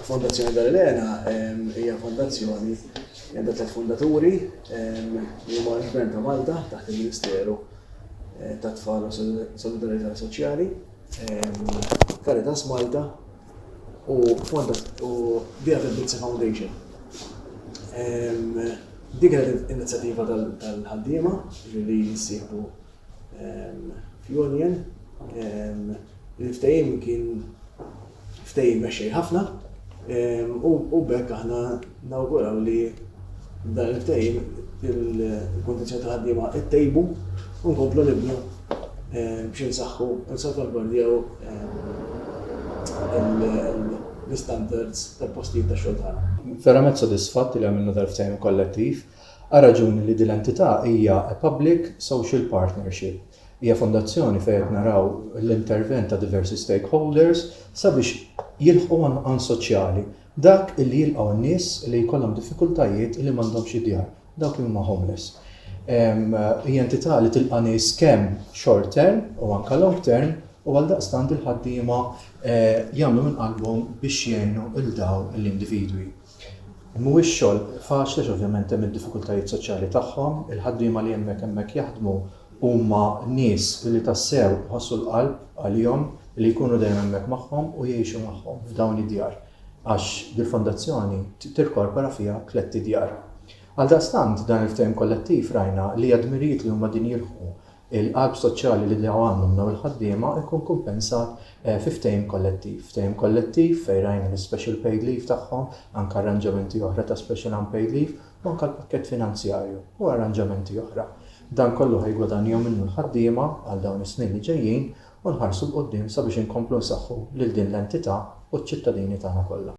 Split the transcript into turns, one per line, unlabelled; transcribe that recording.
Fondazzjoni Dal Elena hija fondazzjoni li għandha tliet fundaturi li huma l-Gvern ta' Malta taħt il-Ministeru tat-Tfal u Solidarjetà Soċjali, Caritas Malta u The Other Bitsy Foundation. Din kienet inizjattiva tal-ħaddiema li jissieħbu fl-Union il-ftehim kien ftehim mexxej ħafna u bekk aħna nawguraw li dan il-ftehim il-kondizjoni ta' ħaddiema ittejbu u nkomplu nibnu biex nsaħħu nsalvagwardjaw l-istandards tal-postijiet ta' xogħol tagħna. Verament sodisfatt
li għamilna dal-ftehim kollettiv Għar-raġuni li din l-entità hija a public social partnership. Hija fondazzjoni fejn qed naraw l-intervent ta' diversi stakeholders sabiex jilħqu għan soċjali, dak li jilqgħu n-nies li jkollhom diffikultajiet li m'għandhomx id-djar, dawk li huma homeless. Hija entità li tilqa' nies kemm short term u anke long term u għaldaqstant il-ħaddiema jagħmlu minn qalbhom biex jgħinu lil dawn l-individwi. Mhuwiex xogħol faċli għax ovvjament hemm id-diffikultajiet soċjali tagħhom. Il-ħaddiema li hemmhekk hemmhekk jaħdmu huma nies li tassew iħossu l-qalb għalihom li jkunu dejjem hemmhekk magħhom u jgħixu magħhom f'dawn id-djar għax dil-fondazzjoni tirkorpora fiha tlett idjar. Għaldaqstant dan il-ftehim kollettiv rajna li għad-dmirijiet li huma din jilħqu il-qalb soċjali li diġà għandhom dawn il-ħaddiema jkun kumpensat fi ftehim kollettiv. Ftehim kollettiv fejn rajna l-ispecial paid leave tagħhom, anke arranġamenti oħra ta' special unpaid leave u anke l-pakkett finanzjarju u arranġamenti oħra. Dan kollu ħa jiggwadanjaw minnu l-ħaddiema għal dawn is-snin li ġejjin u nħarsu 'l quddiem sabiex inkomplu nsaħħu lil din l-entità u ċ-ċittadini tagħna kollha.